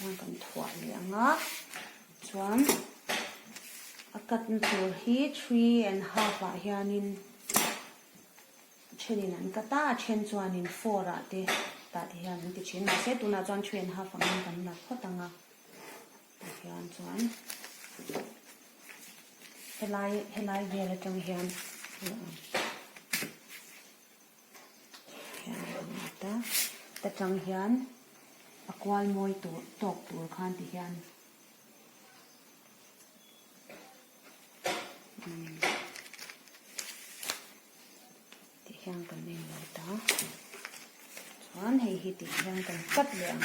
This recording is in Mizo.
Chuan kan thuah leh ang a, chuan a cut na tur hi three and half ah hianin a thenin an cut a, a then chuanin four ah te tah te hian an ti thin, mahse tunah chuan three and half ang in kan lat phawt ang a, tah hian chuan helai helai vel atang hian a lo awm. Tachang hian a kual mawi tur tawk tur khan ti hian tih hian kan inlo ta chuan hei hi tih hian kan chat leh ang.